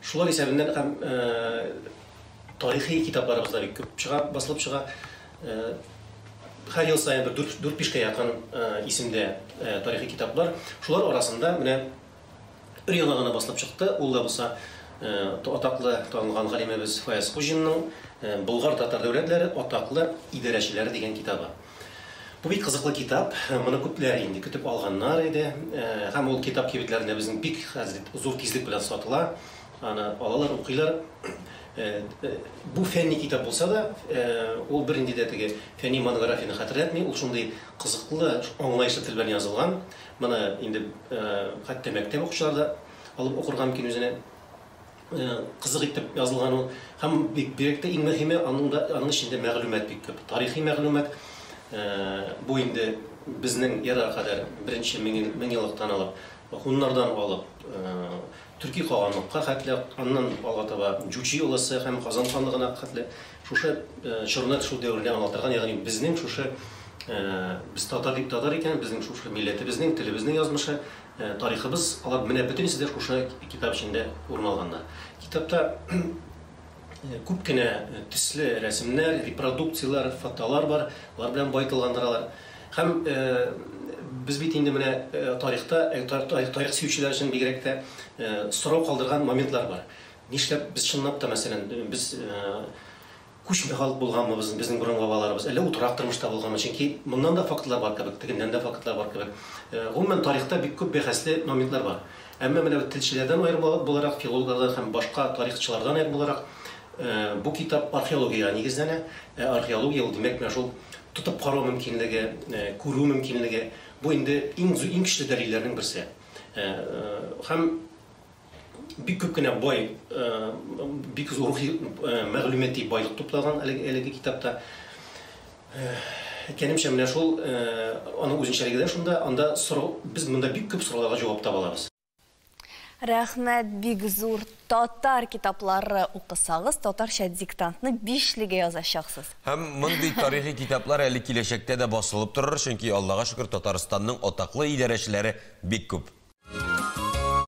Шулар исәбеннән һәм тарихи китапларыбыз да бик күп чыга, басылып чыга. Һәр ел саен бер 4-5 кә якын исемдә тарихи китаплар. Шулар арасында менә өр-яңа гына басылып чыкты, ул да булса атаклы, танылган галимебез Фаяз Хуҗинның Болгар-татар дәүләтләре, атаклы идарәчеләре дигән китабы. Бу бик кызыклы китап, моны күпләр инде көтеп алганнар иде, һәм ул китап кибетләрендә безнең бик хәзер зур тизлек белән сатыла, аны алалар, укыйлар. Бу фәнни китап булса да, ул бернинди дә теге фәнни монографияне хәтерләтми, ул шундый кызыклы, аңлаешлы тел белән язылган, моны инде хәтта мәктәп укучылары да алып укырга мөмкин үзенә. кызык итеп язылган ул. Һәм бик бигрәк тә иң мөһиме, аның да аның эчендә мәгълүмат бик күп. Тарихи мәгълүмат, бу инде безнең эрага кадәр беренче меңьеллыктан алып, һуннардан алып, төрки каганлыкка хәтле, аннан алга таба Җучи олысы һәм Казан ханлыгына хәтле шушы чорны, шул дәверне аңлатырга, ягъни безнең шушы без татар татар икән, безнең шушы милләтебезнең, телебезнең язмышы. Тарихыбыз, алар менә бөтенесе дә шушы китап эчендә урын алганнар. Китапта күп кенә төсле рәсемнәр, репродукцияләр, фотолар бар, алар белән баетылгандыралар. Һәм без бит инде менә тарихта, тарих сөючеләр өчен бигрәк тә сорау калдырган моментлар бар. Нишләп без чынлап та, мәсәлән, без Күчмә халык булганмы без, безнең борынгы бабаларыбыз, әллә утрак тормышта булганмы? Чөнки моннан да фактлар бар кебек, тегеннән дә фактлар бар кебек. Гомумән, тарихта бик күп бәхәсле моментлар бар. Әмма менә бит телчеләрдән аерым буларак, филологлардан һәм башка тарихчылардан аерым буларак, бу китап археологиягә нигезләнә. Ә археология ул, димәк, менә шул тотып карау мөмкинлеге, күрү мөмкинлеге. Бу инде иң, иң көчле дәлилләрнең берсе. Һәм. бик күп кенә бай, э, бик зур рухи э, мәгълүмати байлык туплаган әлеге китапта. Э, әйткәнемчә, менә шул аның үзенчәлеге дә шунда, анда сорау, без монда бик күп сорауларга җавап таба алабыз. Рәхмәт, бик зур татар китаплары укысагыз, татарча диктантны бишлегә язачаксыз. Һәм мондый тарихи китаплар әле киләчәктә дә басылып торыр, чөнки Аллага шөкер, Татарстанның атаклы идарәчеләре бик күп.